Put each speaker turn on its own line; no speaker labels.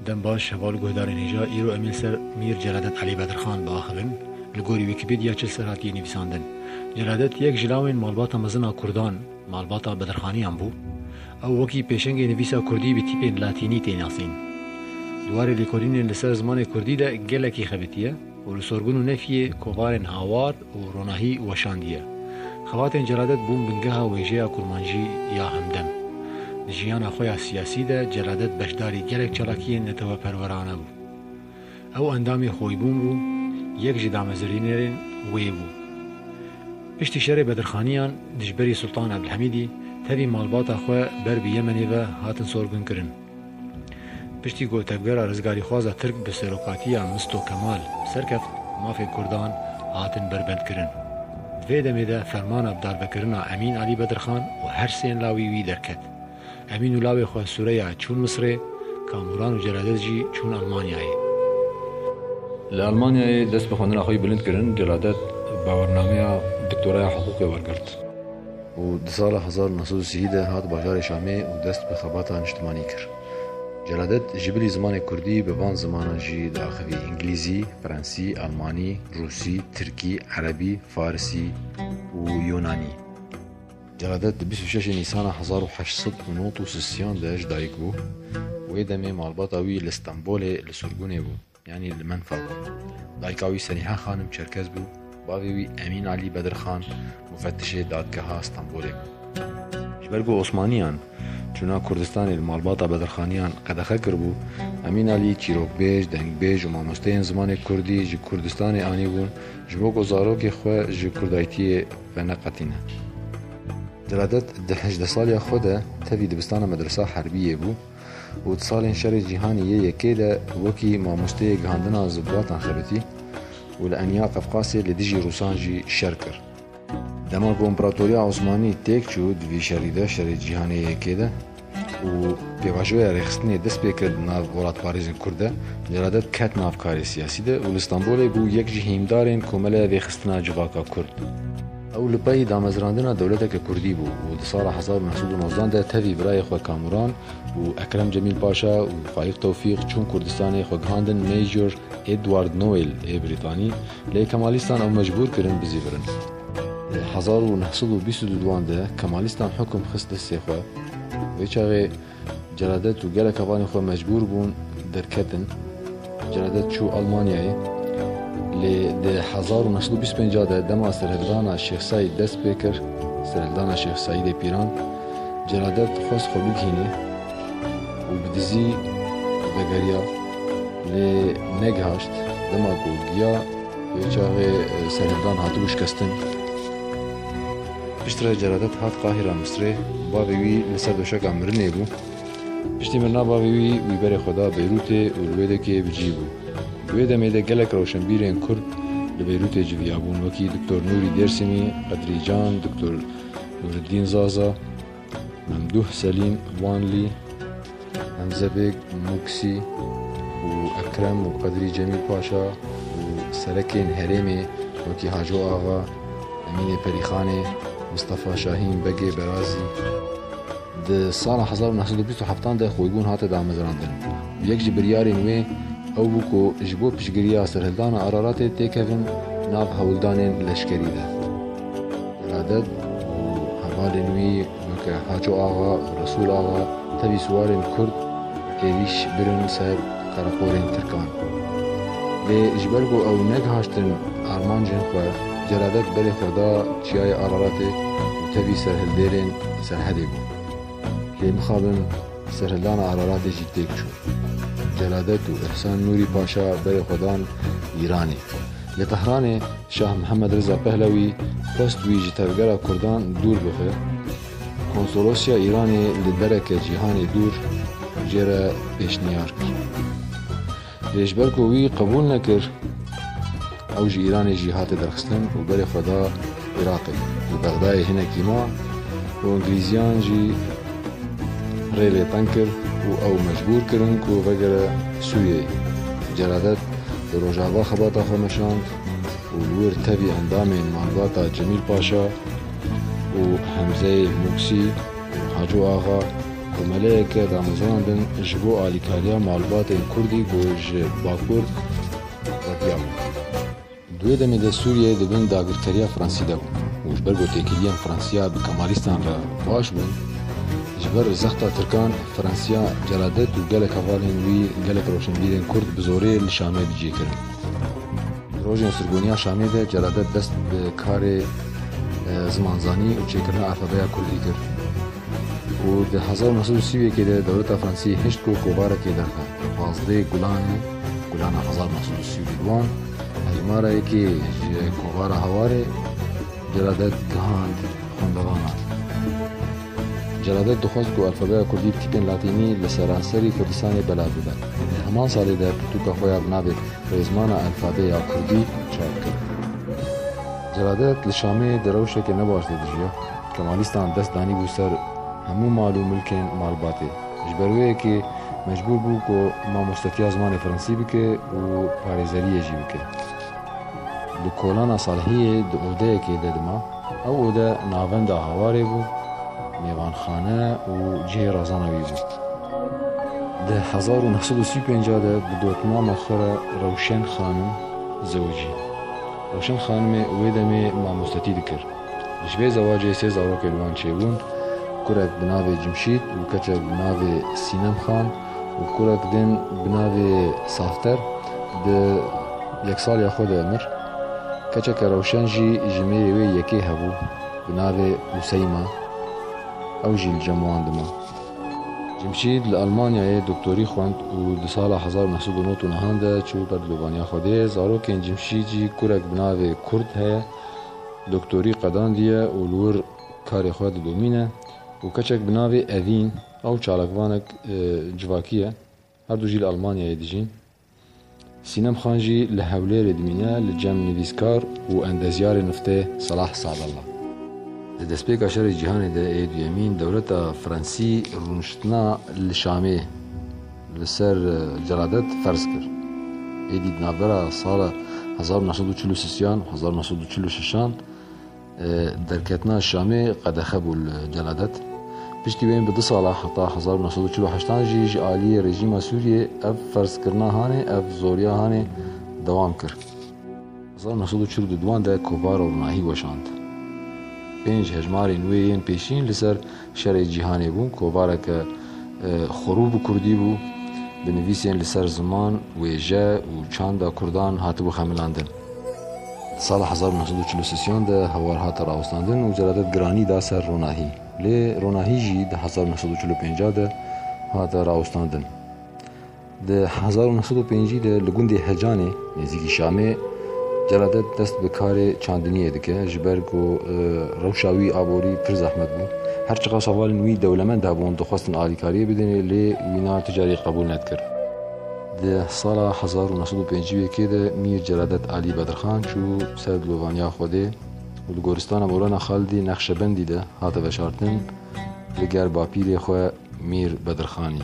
Dembaş heval guhdarên hêja îro em ên ser Mîr Celadet Elî Bedirxan biaxivin. Li gorî Wîkîpedîa çil ser hatiye nivîsandin. Celadet yek ji lawên malbata mezin a kurdan, malbata Bedirxanîyan bû. Ew wekî pêşengê nivîsa kurdî bi tîpên latînî tê nasîn. Di warê lêkolînên li ser zimanê kurdî de gelekî xebitiye û li sorbûn û nefyê kovarên hawar, û ronahî weşandiye. Xebatên celadet bûn bingeha wêjeya kurmancî ya hemdem. Di jiyana xwe ya siyasî de celadet beşdarî gelek çalakiyên neteweperwerane bû. Ew endamê xoybûn bû, yek ji damezirînerên wê bû. Piştî şerê Bedirxaniyan dijberî Sultan Ebdulhemîdî tevî malbata xwe ber bi Yemenê ve hatin sorgunkirin. Piştî ku tevgera rizgarîxwaza Tirk bi serokatiya Misto Kemal serkeft, mafên Kurdan hatin berbendkirin. Di vê demê de fermana bi darbekirina Emîn Alî Bedirxan û her sên lawî wî derket. Emîn û lawê xwe Sûreya çûn Misirê, Kamûran û Celadez jî çûn Elmanyayê. Li Elmanyayê dest bi xwendina xwe yî bilind kirin, Celadet bawernameya doktoraya hiqûqê wergirt. û di sala hezar û neh sed û sî de hat bajarê Şamê û dest bi xebata niştimanî kir. Celadet ji bilî zimanê kurdî bi van zimanan jî diaxivî, îngilîzî, frensî, elmanî, rûsî, tirkî, erebî, farisî û yûnanî. Celadet di bîst û şeş nîsana hezar û heşt sed û nod û sisiyan de ji dayik bû. Wê demê malbata wî li Stenbolê li surgunê bû. Yanî li Menfa de bû. Dayika wî Senîha Xanim Çerkez bû. Bavê wî Emîn Alî Bedirxan mufetişê Dadgeha Stenbolê bû. Ji ber ku Osmaniyan çûna Kurdistanê li malbata Bedirxaniyan qedexe kiribû, Emîn Alî çîrokbêj, dengbêj û mamosteyên zimanê Kurdî ji Kurdistanê anîbûn ji bo ku zarokê xwe ji Kurdaytiyê veneqetîne. Celadet di hejdeh saliya xwe de tevî dibistana Medresa Herbiyê bû. û di salên Şerê Cîhanî yê Yekê de wekî mamosteyê gihandina zilbatan xebitî û li Enya Qefqasê li dijî Rûsan jî şer kir. Dema ku Împeratoriya Osmanî têk çû di vî şerî de, Şerê Cîhanê yê Yekê de û pêvajoya rêxistinê dest pê kir di nav welatparêzên Kurd de, Celadet ket nav karê siyasî de û li Stenbolê bû yek ji hîndarên Komeleya Vêxistina Civaka Kurd. Ew li pey damezrandina dewleteke kurdî bû û di sala hezar û neh sed û nozdan de tevî birayê xwe Kamuran û Ekrem Cemîl Paşa û Fayîq Tewfîq çûn Kurdistanê xwe gihandin Major Edward Noel ê Brîtanî, lê Kemalîstan ew mecbûr kirin bizîvirin. Di hezar û neh sed û bîst û du wan de Kemalîstan hukm xist destê xwe. Vê çaxê Celadet û gelek hevalên xwe mecbûr bûn derketin. Celadet çû Almanyayê. Lê di hezar û neh sed û bîst û pênc de dema serhildana Şêx Seîd dest pê kir, serhildana Şêx Seîdê Pîran, Celadet xwest xwe bigihîne û bi dizî vegeriya. Lê negihaşt. Dema ku giya, vê çaxê serhildan hatibû şikestin. Piştre Celadet hat Qahîra Misrê, bavê wî li ser doşeka mirinê bû. Piştî mirina bavê wî, wî berê xwe da Beyrûtê û li wê de kê bi cî bû. Di wê demê de gelek rewşenbîrên Kurd li Beyrûtê civiyabûn wekî Diktor Nûrî Dêrsimî, Qedrî Can, Diktor Nûriddîn Zaza, Memduh Selîm Wanlî, Hemze Bêg Muksî û Ekrem û Qedrî Cemîl Paşa û serekên herêmê wekî Haco Axa, Emînê Perîxanê, Mistefa Şahîn Begê Berazî. Di sala hezar û neh sed û bîst û heftan de xwebûn hate damezrandin û yek ji biryarên wê ew bû ku ji bo piştgiriya serhildana Araratê têkevin nav hewldanên leşkerî de. Reded û hevalên wî weke Haco Axa, Resûl Axa tevî siwarên Kurd êrîş birin ser qereqolên Tirkan. Lê ji ber ku ew negihiştin armancên xwe, Celadet berê xwe da Çiyayê Araratê û tevî ser hildêrên serhedê bû. Lê mixabin serhildana Araratê jî têk çû. Celadet û Îhsan Nûrî Paşa berê xwe dan Îranê. Li Tehranê Şah Mihemed Riza Pehlewî xwest wî ji tevgera Kurdan dûr bibe. Konsolosya Îranê li dereke cîhanê dûr jê re pêşniyar kir. Lê ji ber ku wî qebûl nekir, ew ji Îranê jî hate derxistin û berê xwe da Iraqê li Bexdayê hinekî ma û Îngilîziyan jî rê lê teng kir û ew mecbûr kirin ku vegere Sûriyeyê. Celadet li Rojava xebata xwe meşand û li wir tevî endamên malbata Cemîl Paşa û Hemzeyê Mûksî û Haco Axa komeleyeke damezrandin ji bo alîkariya malbatên Kurdî ku ji Bakur vediya bûn. Di wê demê de Sûriye di bin dagirkeriya Fransî de bû û ji ber ku têkiliyên Fransiya bi Kemalîstan re baş bûn, ji ber zexta Tirkan Fransiya celadet û gelek hevalên wî, gelek rewşenbîrên Kurd bi zorê li Şamê bicî kirin. Di rojên sirgoniya Şamê de celadet dest bi karê zimanzanî û çêkirina alfabeya Kurdî kir. û di hezar û neh sed û sî û yekê de dewleta Fransî hişt ku kovarekê derxe pazdê gulanê gulana hezar û neh sed û sî û du wan hejmara yekê ji kovara hawarê Celadet gihand xwendevanan. Celadet dixwest ku alfabeya kurdî bi tîpên latînî li seranserî Kurdistanê belav bibe. Di heman salê de pirtûka xwe ya bi navê Rêzmana Elfabê ya Kurdî çap kir. Celadet li Şamê di rewşeke ne baş de dijiya. Kemalîstan dest danîbû ser hemû mal û milkên malbatê. Ji ber wê yekê mecbûr bû ku mamostetiya zimanê fransî bike û parêzeriyê jî bike. Li kolana Salihiyê di odeyekê de dima. Ew ode navenda hawarê bû, mêvanxane û cihê razana wî bû. Di hezar û neh sed û sî û pênc de bi dotmama xwe re Rewşen Xanim zewicî. Rewşen Xanimê wê demê mamostetî dikir. Ji vê zewacê sê zarokên wan çêbûn, kurek bi navê Cimşît û keçek bi navê Sînem Xan û kurek din bi navê Safter di yeksaliya xwe de mir. Keçeke rewşen jî ji mêrê wê yekê hebû bi navê Useyma, ew jî li cem wan dima. Cimşît li Elmanyayê doktorî xwend û di sala hezar û neh sed û nod û nihan de çû ber dilûvaniya Xwedê. Zarokên Cimşît jî kurek bi navê Kurd heye. Doktorî qedandiye û li wir karê xwe didomîne û keçek bi navê Evîn ew çalakvanek civakî ye, her du jî li Elmanyayê dijîn. Sînem Xan jî li Hewlêrê dimîne li cem nivîskar û endezyarê niftê Selah Sadallah. Di destpêka Şerê Cîhanê de ê duyemîn dewleta Fransî rûniştina li Şamê. li ser celadet ferz kir. Êdî di navbera sala hezar û neh sed û çil û sîsyan û hezar û neh sed û çil û şişan derketina Şamê qedexe bû li celadet. Piştî wê bi du sala heta hezar û neh sed û çil û heştan jî ji aliyê rejîma Sûriyê ev ferzkirina hanê, ev zoriya hanê dewam kir. Hezar û neh sed û çil û du di wan de kovara û nahî weşand. Pênc hejmarên wê yên pêşîn li ser Şerê cîhanê bû, kovareke xwerû bi kurdî bû. Bi nivîsên li ser ziman, wêje û çanda kurdan hatibû xemilandin. Di sala hezar û neh sed û çil û sisiyan de hewar hate rawestandin û celadet giranî da ser ronahî. Lê ronahî jî di hezar û neh sed û çil û pêncah de hate rawestandin. Di hezar û neh sed û pêncî de li gundê Hecanê nêzîkî Şamê Celadet dest bi karê çandiniyê dike ji ber ku rewşa wî aborî pir zehmet bû. Her çiqas hevalên wî dewlemend hebûn dixwestin alîkariyê bidin lê wî na tu carî qebûl nedikir. Di sala hezar û neh sed û pêncî û yekê de Mîr Celadet Alî Bedirxan çû ser dilovaniya Xwedê û li goristana Mewlana Xalidê Nexşebendî de hate veşartin li ger bapîrê xwe Mîr Bedirxanî.